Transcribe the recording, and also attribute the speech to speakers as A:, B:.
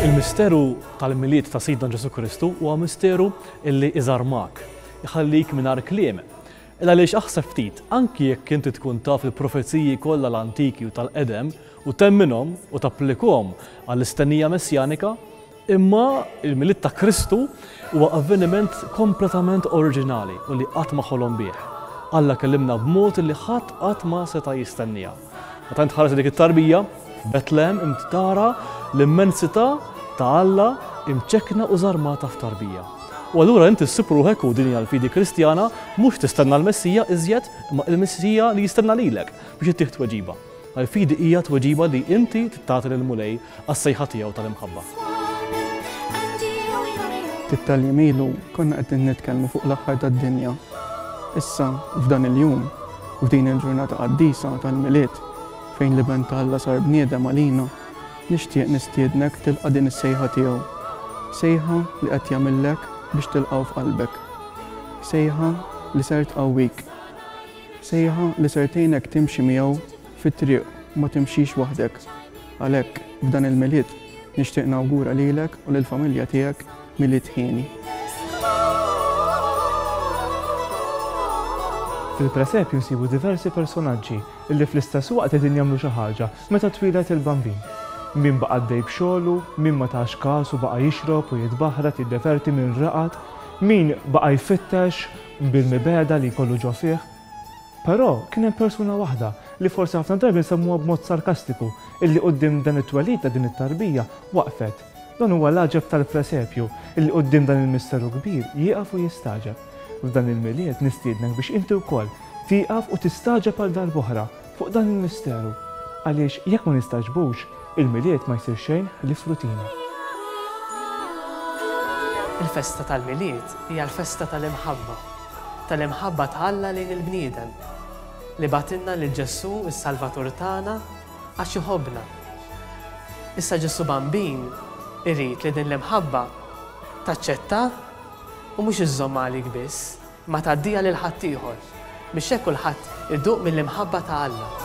A: Il-misteru tal-Milied ta' Sidna Ġesu Kristu huwa misteru illi iżarmak, iħallik mingħajr kliem. Il għaliex aħseb ftit, anki jekk inti tkun taf il-profeziji kollha l-antiki u tal-qedem u temminhom u tapplikahom għall-istennija messjanika, Imma il-Milied ta' Kristu huwa avveniment kompletament oriġinali u li qatt ma ħolom bih. Alla kellimna b'mod li ħadd qatt ma seta' jistennieha. Meta int tħares dik it-tarbija f'Betlehem int tara l-immensità ta' Alla imċekkna u żarmata f'tarbija. U allura int issib ruħek, u din hija l-fidi Kristjana, mhux tistenna l-Messija iżjed, imma il-Messija li jistenna lilek biex ittih tweġiba. Għall-fidi hija tweġiba li inti trid tagħti lill-Mulej Għas-sejħa tiegħu tal-imħabba. Ftit
B: tal-jiem ilu konna qegħdin nitkellmu fuq l-aħħar tad-dinja. Issa, f'dan il-jum, f'din il-ġurnata qaddisa tal-Milied, fejn l-Iben ta' Alla sar bniedem għalina, nixtieq nistiednek tilqa' din is-sejħa tiegħu. Sejħa li qed jagħmillek biex tilqgħu f'qalbek. Sejħa li ser tqawwik. Sejħa li ser tgħinek timxi miegħu fit-triq u ma timxix waħdek. Għalhekk, f'dan il-Milied, nixtieq nawgura lilek u lill-familja tiegħek Milied hieni.
C: Fil-presepju nsibu diversi personaġġi li fl-istess waqt qegħdin jagħmlu xi ħaġa meta twieled il-Bambin. Min baqa' għaddej b'xogħlu, min ma tax kas u baqa' jixrob u jitbaħrat, jiddeverti, min raqad, min baqa' jfittex bil-mibegħda li jkollu ġo fih. Però, kien hemm persuna waħda, li forsi ħafna drabi nsemmuha b'mod sarkastiku, illi quddiem dan it-twelid ta' din it-tarbija, waqfet. Dan huwa l-għaġeb tal-presepju, illi quddiem dan il-misteru kbir, jieqaf u jistagħġeb. F'dan il-Milied, nistiednek biex inti wkoll, tieqaf u tistagħġeb għal darb'oħra, fuq dan il-misteru. Għaliex, jekk ma nistagħġbux, il-Milied ma jsir xejn ħlief rutina.
D: Il-festa tal-Milied hija l-festa tal-imħabba. tal-imħabba ta' Alla lejn il-bniedem, li bagħtilna lil Ġesù s-Salvatur tagħna għax iħobbna. Issa Ġesù Bambin irid li din l-imħabba taċċettah u mhux iżżommha għalik biss, imma tgħaddiha lil ħaddieħor, biex hekk kulħadd Idduq mill-imħabba ta' Alla.